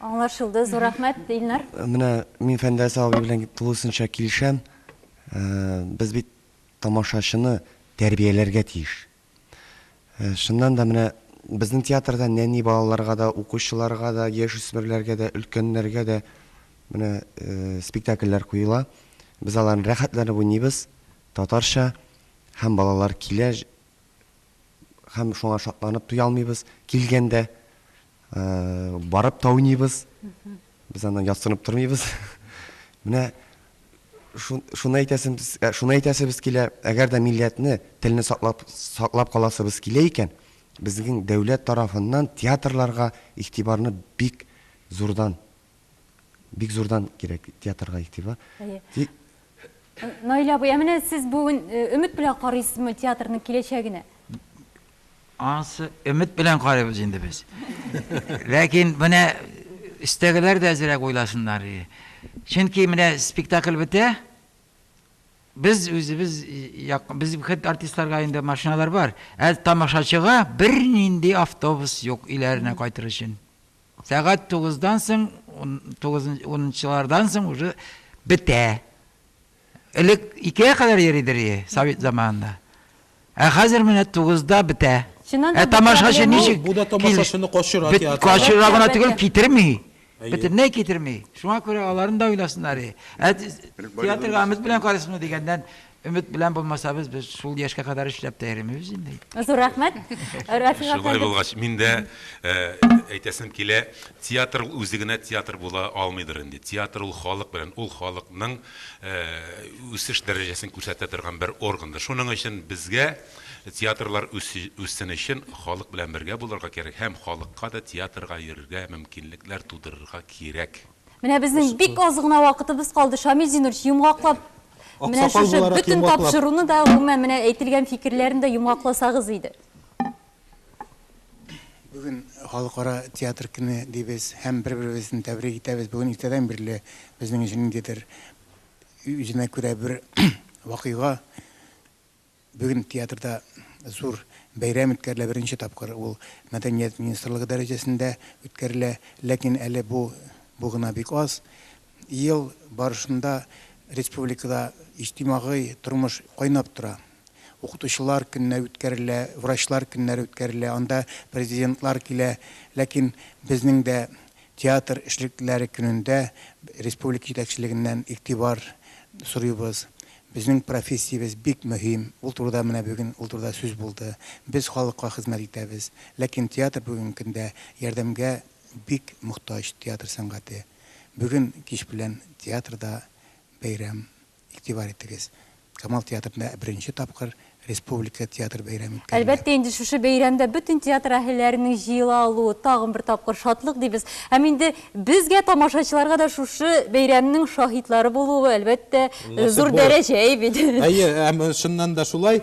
Аңлашылды. Зур рәхмәт, Илнар. Менә мин Фәндәс абый белән тулысынча килешәм. Без бит тамашачыны тәрбияләргә тиеш. Чыннан да, менә безнең театрда нәни балаларга да, укучыларга да, яшүсмерләргә дә, өлкәннәргә дә менә спектакльләр куела. Без аларны рәхәтләнеп уйныйбыз, татарча, һәм балалар килә, һәм шуңа шатланып туя алмыйбыз, килгәндә. Барып та уйныйбыз. Без аннан ясынып тормыйбыз. Менә шуны әйтәсебез, э, шуны әйтәсебез килә, әгәр дә милләтне, телне саклап саклап каласыбыз килә икән, безнең дәүләт тарафыннан театрларга игътибарны бик зурдан Бик зурдан кирәк театрга игътибар. Әйе. Наилә апа, ә менә сез бүген өмет белән карыйсызмы театрның киләчәгенә? Ансы өмет белән карыйбыз инде без. Ләкин менә өстәгеләр дә әзрәк уйласыннар. Чөнки менә спектакль бетә, без үзебез без хет артистларга инде машиналар бар, ә тамашачыга бернинди автобус юк өйләренә кайтыр өчен. Сәгать тугыздан соң, тугыз, унынчылардан соң уже бетә. Элек икегә кадәр йөридер ие, совет заманында. Ә хәзер менә тугызда бетә. Чыннан да Ә бу тамашачы проблема- ничек? Бу да кил- тамашачыны качыра бет- театрга. Качыра гына түгел, Әлбәттә. китерми. Әйе. Бөтенләй китерми. Шуңа күрә аларны да уйласыннар ие. Ә театрга өмет белән карыйсызмы дигәннән, Өмет белән булмасабыз, без шул яшькә кадәр эшләп тә йөремибез инде. Зур рәхмәт. Рафик Шулай әфәнде. булгач, мин дә э, әйтәсем килә, театр ул үзе генә театр була алмыйдыр инде. Театр ул халык белән, ул халыкның э, үсеш дәрәҗәсен күрсәтә торган бер органдыр. Шуның өчен безгә театрлар үсе, үссен өчен халык белән бергә булырга кирәк һәм халыкка да театрга йөрергә мөмкинлекләр тудырырга кирәк. Менә безнең бик аз гына вакытыбыз калды. Шамил Зинурович, йомгаклап, менә шушы бөтен тапшыруны да, гомумән, менә әйтелгән фикерләрне дә йомгакласагыз иде. Бүген халыкара театр көне дибез һәм бер-беребезне тәбрик итәбез. Бүген иртәдән бирле безнең өчен ниндидер үзенә күрә бер вакыйга. Бүген театрда зур бәйрәм үткәрелә, беренче тапкыр ул мәдәният министрлыгы дәрәҗәсендә үткәрелә. Ләкин әле бу бу гына бик аз. Ел барышында республикада иҗтимагый тормыш кайнап тора. Укытучылар көннәре үткәрелә, врачлар көннәре үткәрелә, анда президентлар килә. Ләкин безнең дә Театр эшлеклеләре көнендә республика җитәкчелегеннән игътибар сорыйбыз. Безнең профессиябез бик мөһим, ул турыда менә бүген ул турыда сүз булды. Без халыкка хезмәт итәбез. Ләкин театр бүгенге көндә ярдәмгә бик мохтаҗ, театр сәнгате. Бүген кич белән театрда бәйрәм. Игътибар итегез, Камал театрында беренче тапкыр республика театр бәйрәме үткәрелә. Әлбәттә инде, шушы бәйрәмдә бөтен театр әһелләренең җыела алуы тагын бер тапкыр шатлык дибез. Һәм инде безгә, тамашачыларга да шушы бәйрәмнең шаһитлары булуы, әлбәттә, зур дәрәҗә бит. Әйе, һәм чыннан да шулай.